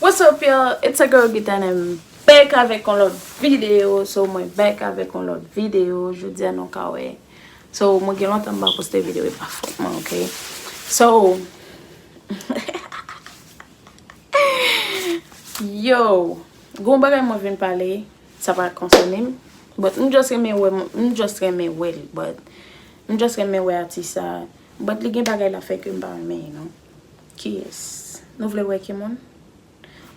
What's up y'all, it's your girl Gita and I'm back avèk yon lòt videyo So mwen back avèk yon lòt videyo, jodia nou ka wè Mwen So mwen gen lontan m pa poste video e pa fot mwen ok So Yo Gon bagay mwen vin pale sa pa konsène m But m just renmen wè m just renmen wè l But m just renmen wè atis sa But li gen bagay l ap fè ke m pa renmen you know Kiyès Nou vle wè ki moun?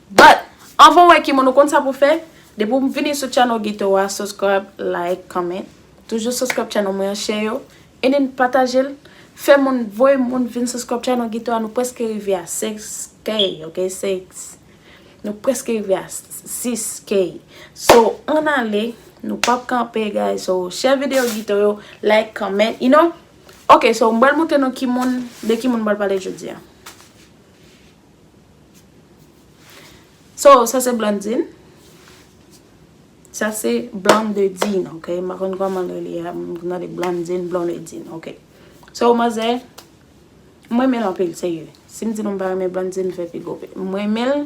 But Anvan w wè ki moun ou konn sa pou w fè Depi w vini sou channel Guito a Subscribe Like Comment Toujou subscribe channel mwen an Share yo And then pataje l Fè moun Voye moun vin subscribe channel Guito a Nou preske rive a 6 k ok 6 Nou preske rive a 6 k So ann ale Nou pa p kanpe guys So share video Guito yo Like Comment You know Ok so m pral montre nou ki moun De ki moun m pral pale jodi a. So sa se Blandine. Sa se Blandedine ok. M pa konn kòman yo li a. M nan de Blandine, Blondedine ok. So manzè. M renmen l anpil serye. Si m di nou m pa renmen Blandine m fè pi gwo pe. M renmen l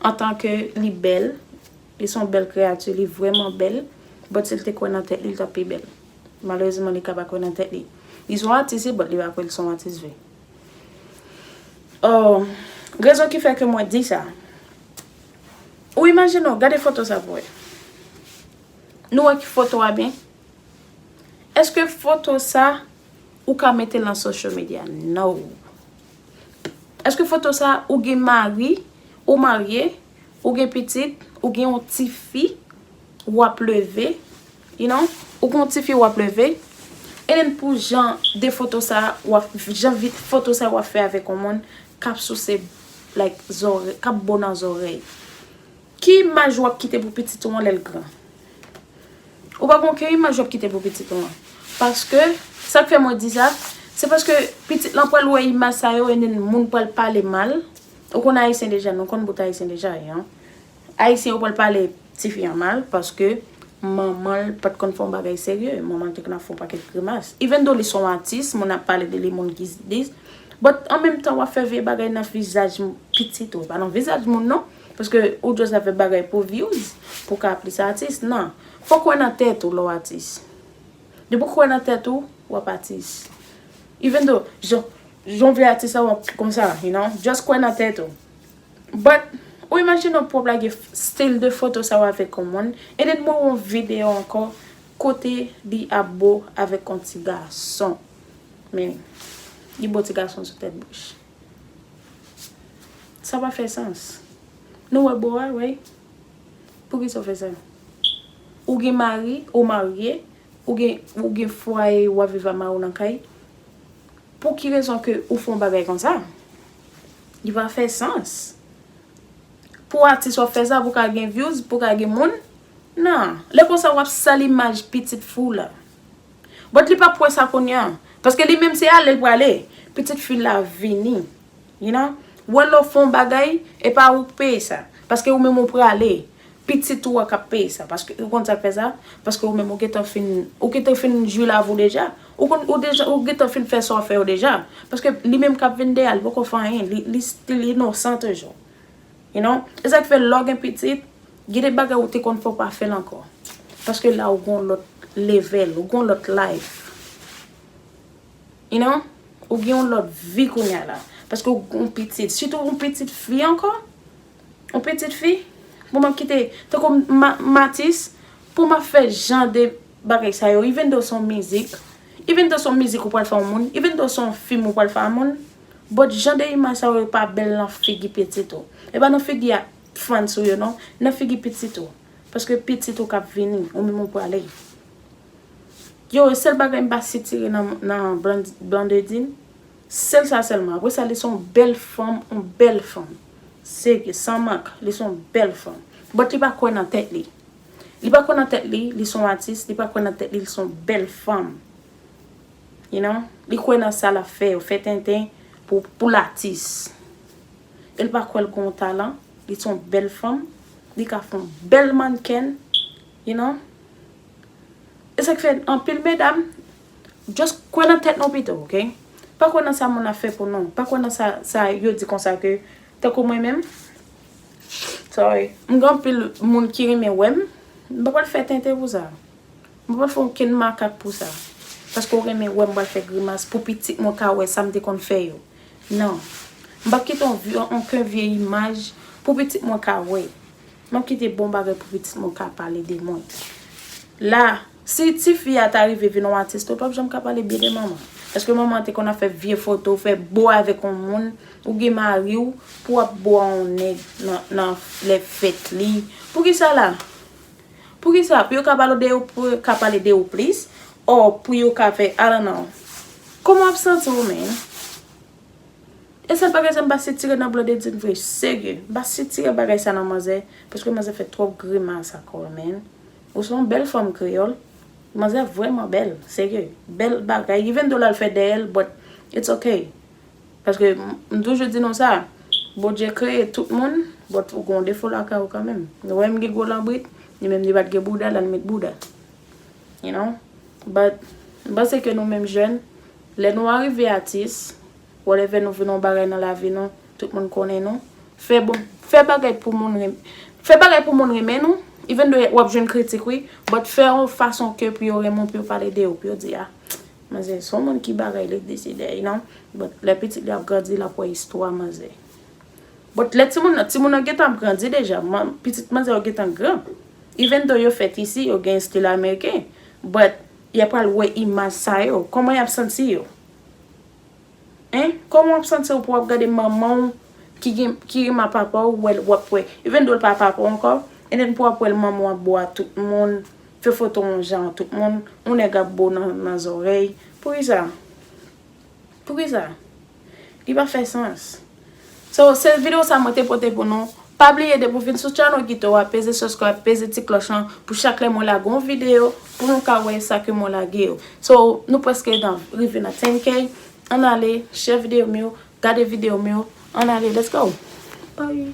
antan ke li bèl. Li son bèl kreyati. Li vreman bèl. But si l te kwè nan tèt li l t ap pi bèl. Malerezman li ka pa kwè nan tèt li. Li son atis wi but li pa kwè l son atis vre. Oh rezon ki fè ke mwen di sa. Ou imajine w, gade foto sa pou wè. Nou wè ki foto a byen? Eske foto sa ou ka mete lan social media? No. Eske foto sa ou gen mari, ou marye, ou gen pitit, ou gen yon ti fi? wap leve you know ou gon tifi wap leve and then pou jan de foto sa wap jan foto sa wap fè avèk yon moun kap souse like zòrèy kap bo nan zòrèy ki imaj wap kite pou pitit ou an lèl gran ou pa gon ken imaj wap kite pou pitit ou an paske sak fè mwen di sa se paske pitit lan pwal wè imaj sa yo and then moun pwal pale mal ou konn ayisyen deja nou konn bout ayisyen deja you know. Ayisyen yo pral pale tifi an mal paske manman l pat konn fè yon bagay serye, manman l te konn fè yon pakèt grimas. Even though li se yon atis, moun ap pale de li, moun ki dis, but an menm tan wap fè vye bagay nan vizaj pitit ou, pa nan vizaj moun non, paske ou just la fè bagay pou views, pou w ka plis atis, nan. Fòk ou wè nan tèt ou lè w atis. Depi w kwè nan tèt ou, wap atis. Even though, jan, jan w vle atis la wap konsa, you know, just kwè nan tèt ou. But ou imagine ou pwop lage style de foto sa yo avek yon moun and then mwen wè yon video anko kote li ap bo avek yon ti gason men li bo ti gason sou tet bouch sa pa fè sans nou wè bo a wi poukisa ou fè sa ou gen mari ou marye ou gen ou gen fwaye wap viv ak mariw nan kay pouki rezon ke ou fè yon bagay konsa. Li pa fè sans. Pou atis wap fè sa pou ka gen vyouz, pou ka gen moun. Nan. Lè konsa wap sal imaj pitit fi w la. But li pap wè sa kounye an. Paske li menm se ale l prale. Pitit fi l la vini. You know. Wè lè w fè yon bagay, e pa ou k peye sa. Paske ou menm ou prale. Pitit ou an kap peye sa paske ou konn sak fè sa paske ou menm ou gentan fin ou gentan fin jwi lavi w deja ou konn ou deja ou gentan fin fè sa w fè yo deja paske li menm kap vin dèyè a li poko fè anyen li li stil inosan toujou you know e sak fè lè w gen pitit gen de bagay ou te konn fè w pa fè l ankò paske la ou gen yon lòt level ou gen yon lòt life you know ou gen yon lòt vi kounya la paske ou gen yon pitit sitou yon pitit fi ankò. Yon pitit fi pou map kite tankou m atis pou map fè jan de bagay sa yo even though se yon mizik even though se yon mizik ou pral fè yon moun even though se yon fim ou pral fè yon moun but jan de imaj sa yo pa bèl nan figi pitit ou e pa nan figi a fans ou yo non nan figi pitit ou paske pitit ou kap vini ou menm ou prale yo e sèl bagay m pa sitire nan Blandedy. Sel sa selman apre sa li son bel fanm on bel fanm serye san mank li son bel fanm but li pa kwe nan tet li li pa kwe nan tet li li son atis li pa kwe nan tet li li son bel fanm you know li kwe nan sa lap fe yo fe tenten pou poul atis el pa kwe li gon talan li son bel fanm li ka fon bel mannken you know esak fe anpil medam Just kwè nan tèt nou pito ok. Pa kwè nan sa moun ap fè pou nou. Pa kwè nan sa yo di konsa ke tankou mwen menm sorry m gen anpil moun ki renmen wè m. M pa pral fè tenten pou sa. M pa pral fè okenn makak pou sa. Paske ou renmen wè m pral fè grimas pou pitit mwen ka wè sa m te konn fè yo. Non. M pap kite okenn vye imaj pou pitit mwen ka wè. M ap kite bon bagay pou pitit mwen ka pale de mwen. La Si ti fi a ta rive vin yon atis tou pap janm ka pale byen de manman. Eske manman te konn ap fè vye foto, fè bo avèk yon moun, ou gen mari w pou wap bo a yon nèg nan lè fèt li. Poukisa la? Poukisa? Pou yo ka pale de ou, pou yo ka pale de ou plis or pou yo ka fè I don't know. Kòman wap santi w menn? E sèl bagay sa m pa sitire nan Blondedine vre, serye. M pa sitire bagay sa nan manzè paske manzè fè twòp grimas ak kò l menn. Ou son bel fanm kreyol. Manzè vreman bel serye bel bagay even though lal fè dèyèl but it's ok paske m toujou di nou sa Bondye kreye tout moun but ou gen yon defo lakay ou kanmenm nou wèm gen gwo lanbrit li menm li pat gen bouda lal met bouda you know but m panse ke nou menm jèn lè nou arive atis Whatever nou vle nan bagay nan lavi nou, tout moun konnen nou. Fè bon, fè bagay pou moun renm, fè bagay pou moun renmen nou, even do wap jwenn kritik wi, but fè yon fason ke pou yo renmen w, pou yo pale de ou, pou yo di ah, manzè son moun ki bagay li deside you know, but lè pitit li ap grandi lap wè istwa manzè. But lè timoun nan, timoun nan gentan ap grandi deja, pitit manzè yo gentan gran, even do yo fèt isi, yo gen stil ameriken, but yap pral wè imaj sa yo, kòman yap santi yo? Hein kòman wap santiw pou wap gade manmanw ki gen ki renman papaw ou wèl wap wè even though l pa papaw ankò and then pou wap wèl manmanw ap bo a tout moun fè foto yon jan a tout moun yon nèg ap bo nan zòrèy poukisa poukisa li pa fè sans. So se video sa mwen te pote pou nou, pa bliye depi w vin sou channel Guito a peze subscribe peze ti cloche lan pou chak lè mwen lage yon video pou nou ka wè sa ke mwen lage yo. So nou preske nan rive nan 10 k ann ale share video m yo gade video m yo ann ale let's go bye.